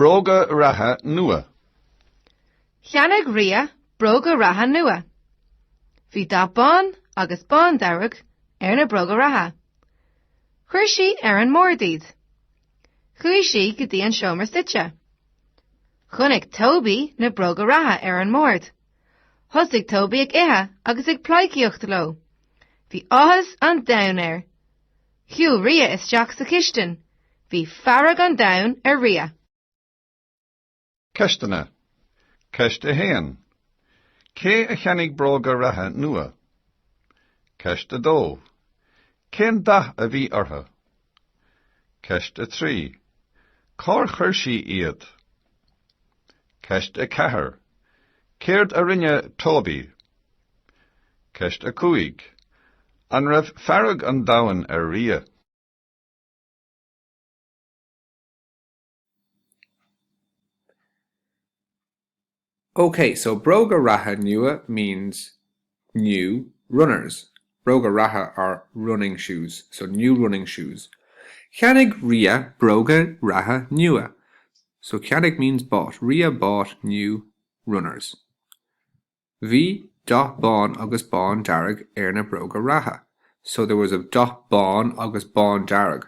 Bróga reatha nua. Cheannaigh Ria bróga reatha nua. Bhí dath bán agus bándearg ar na bróga reatha. Chuir sí ar an mbord iad. Chuaigh sí go dtí an seomra suite. Chonaic Toby na bróga reatha ar an mbord. Thosaigh Toby ag ithe agus ag pleidhcíocht leo. Bhí áthas an domhain air. Shiúil Ria isteach sa chistin. Bhí fearg an domhain ar Ria. Ceisteanna. Ceist 1. Cé a cheannaigh bróga reatha nua? Ceist 2. Cén dath a bhí orthu? Ceist 3. Cár chuir sí iad? Ceist 4. Céard a rinne Toby? Ceist 5. An raibh fearg an domhain ar Ria? OK, so bróga reatha nua means New Runners, bróga reatha are running shoes, so new running shoes. Cheannaigh Ria bróga reatha nua, so cheannaigh means bought. Ria bought new runners. Bhí dath bán agus bándearg ar na bróga reatha, so there was a dath bán agus bándearg.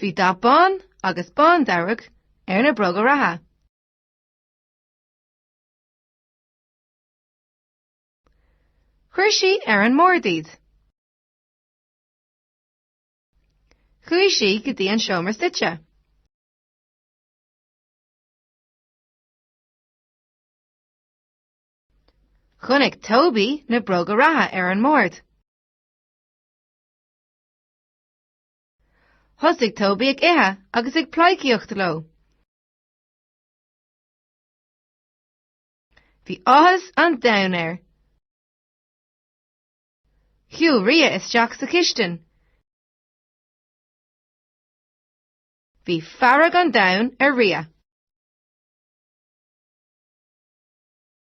Bhí dath bán agus bándearg ar na bróga reatha. Chuir sí ar an mbord iad. Chuaigh sí go dtí an seomra suite. Chonaic Toby na bróga reatha ar an mbord. Thosaigh Toby ag ithe agus ag pleidhcíocht leo. Bhí áthas an domhain air. Shiúil Ria isteach sa chistin. Bhí fearg an domhain ar Ria.